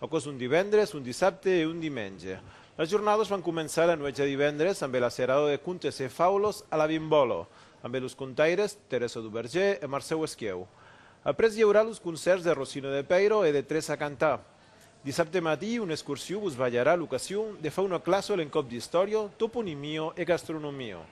Aquò's un divendres, un dissabte e un dimenge. Las jornadas van començar la nuèch de divendres ambe la serada de contes e faulos a la Bimbòla, ambe los contaires Teresa Duverger e Marcèu Esquieu. Après i aurà los concèrts de Rosino de Peiro e de Tres a Cantà. Dissabte matí, una excursiu vos balharà l'ocasion de far una classa a l'encòp d'Istòria, Toponimio e Gastronomio.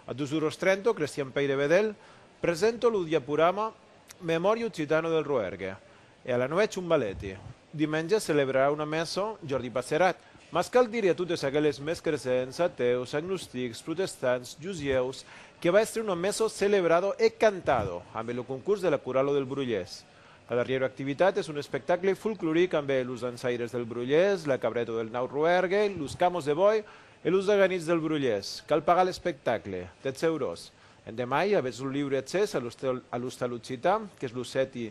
A 2 oros 30 o Crestian Pèire Bedèlh presenta lo diaporama Memòria occitana del Roergue. E a la nuèch un balèti. Dimenge celebrarà una messa Jordi Passerat, mas cal dire a totes aqueles mescresents, atèus, agnostics, protestants, jusièus, que va èstre una messa celebrado e cantado ambe lo concurs de la Coralo del Brolhés. La darrièra activitat es un espectacle folcloric ambe los dançaires del Brolhés, la cabrèta del Naut Roèrgue, los camos de bòi e los aganits del Brolhés. Cal pagar l'espectacle, 10 euros. Endemai, avètz lo liure accès a l'Ostal Occitan, qu'es lo sèti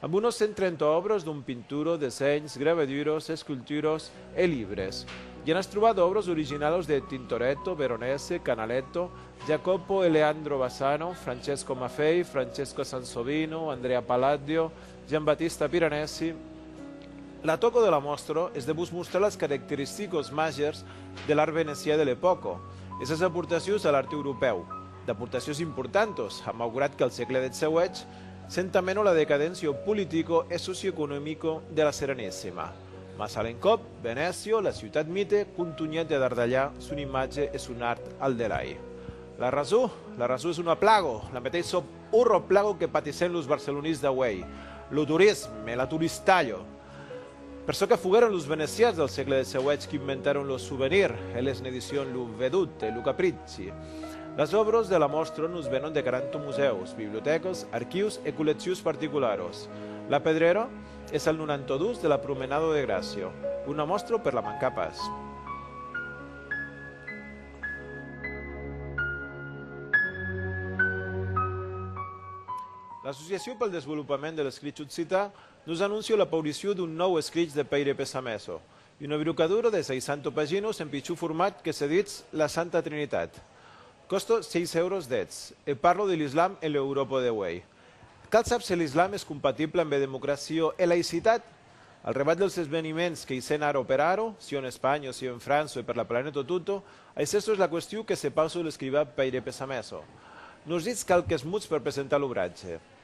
amb unos 130 òbras dont pinturo, dessenhs, gravaduros, esculturos e libres. I anas trobat òbras originalos de Tintoretto, Veronese, Canaletto, Jacopo e Leandro Bassano, Francesco Maffei, Francesco Sansovino, Andrea Palladio, Giambattista Piranesi. La tòca de la mòstra es de vos mostrar las caracteristicas màgers de l'art venecià de l'epòca e sas aportacions a l'art europèu, d'aportacions importantas, malgrat qu'al sègle xviii Senta meno la decadentio politico e socioeconomico de la Serenesima. Mas a l'encòp, Venècio, la ciutat mite, contunhèt de dardalhar son imatge e son art al delai. La rason? La rason es una plago, la meteis sòp ora plago que patissèn los barcelonís d'auèi, lo turism e l'aturistalho. Per çò que foguèron los venecians del sègle de seuèch qu'inventèron lo souvenir e les n'edicion Lo Vedut e Lo Capricci, las òbros de la mòstra nos venon de 40 musèus, bibliotècas, archius e collectius particularos. La Pedrera es al 92 de la Promenada de Gràcia. Una mòstra per la mancar pas. L'Associacion pel desvolopament de l'escrich occitan Nos anóncio la pauricion d'un nòu escrich de Pèire Pesameso, una virucadura de 600 paginos en pichon format que se ditz La Santa Trinitat. Còsto 6 euros deths, e parlo de l'Islam e l'Euròpa de uei. Cal sap se l'Islam es compatible ambe democracio e laïcitat? Al rebat dels esveniments que i sèn ara o per ara, sieu en Espanha o sieu en França e per la planeta tota, aicesto es la question que se pausa l'escrivà Pèire Pesameso. Nos ditz qualques mots per presentar l'obratge.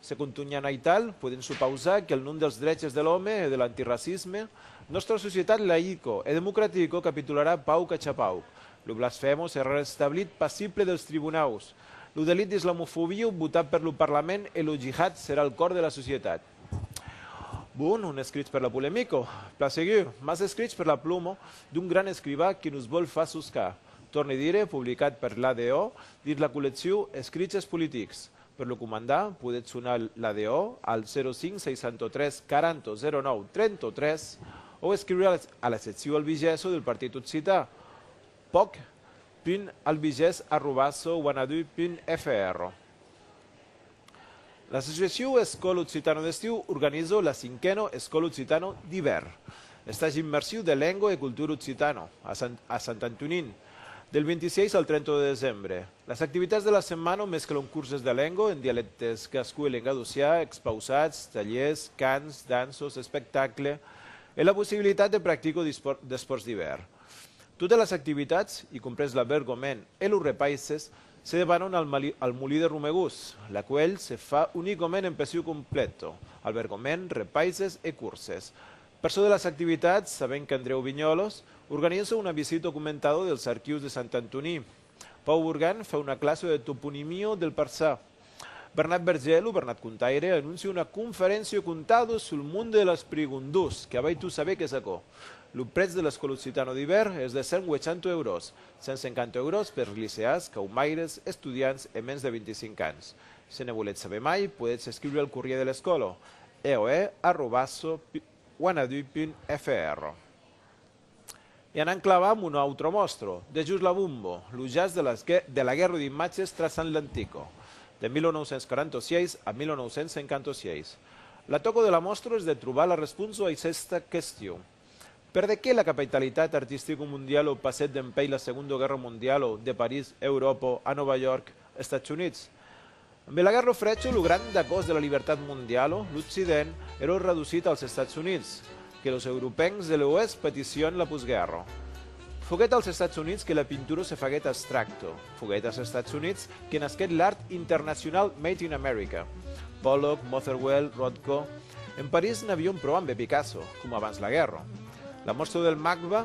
Se contunhan aital, podem supausar qu'el nom dels dreches de l'òme e de l'antiracisme, nòstra societat laïco e democratico capitularà pauc a cha pauc. Lo blasfemo serà restablit passible dels tribunaus. Lo delit d'islamofobiu votat per lo parlament e lo jihad serà al còr de la societat. Bon, un escrich per la polemico, plan segur, mas escrich per la plumo d'un gran escrivà que nos vòl far soscar. Torne dire, publicat per l'ADO dins la collecciu Escriches politics. Per lo comandar, podètz sonar l'ADO al 05 63 40 09 33 o escriure a la seccion albigeso del Partit Occità, poc.albiges arrobas wanadoo.fr. L'associacion Escòl Occitano d'Estiu organizo la cinquena Escòl Occitano d'Ivèrn, estage immersiu de lengua e cultura occitana, a Sant Antonin, del 26 al 30 de desembre. Las activitats de la setmana mesclon curses de lenga en dialèctes gascon e lengadocià, expausats, talhèrs, cants, danças, espectacles e la possibilitat de practica d'espòrts d'ivèrn. Totas las activitats, i comprés l'albergament e los repaisses, se debanon al molí de Romegós, laquèl se fa unicament en pessiu complet, albergament, repaisses e curses. Per çò de las activitats, sabèm qu'Andrèu Vignòlas organiza una visita comentada dels arquius de Sant Antoní. Pau Bourgain fa una classa de toponimio del Parçà. Bernat Berger, lo Bernat Contaire, anóncia una conferéncia contado sul monde de las prigondós, que avèi tot saber qu'es aquò. Lo prètz de l'escòla occitano d'ivèrn es de 1.800 eurós, 150 eurós pers liceàs, caumaires, estudiants e mens de 25 ans. Se ne volètz saber mai, podètz escriure al corrier de l'escòla, eoe arrobas wanadoo.fr. E anam clavar mon autre mòstro, de Just la Bombo, lo jazz de las de la guèrra d'imatges traçant l'Antico, de 1946 a 1956. La tòca de la mòstro es de trobar la responsa a aicesta question. Perdequé la capaitalitat artistico-mondialo passèt dempeis la Segonda Guèrra Mondialo de París, Euròpa, a Nòva York, Estats Units? Ambe la guèrra lo frècho, lo grand dagós de la libertat mondialo, l'Occident, ero redusit als Estats Units, que los Europencs de l'Oèst patission la postguèrra. Foguèt als Estats Units que la pintura se faguèt abstracto, foguèt als Estats Units que nasquèt l'art internacional made in America, Pollock, Motherwell, Rothko. En París n'avion pro ambe Picasso, coma abans la guèrra. La mòstra del MACBA,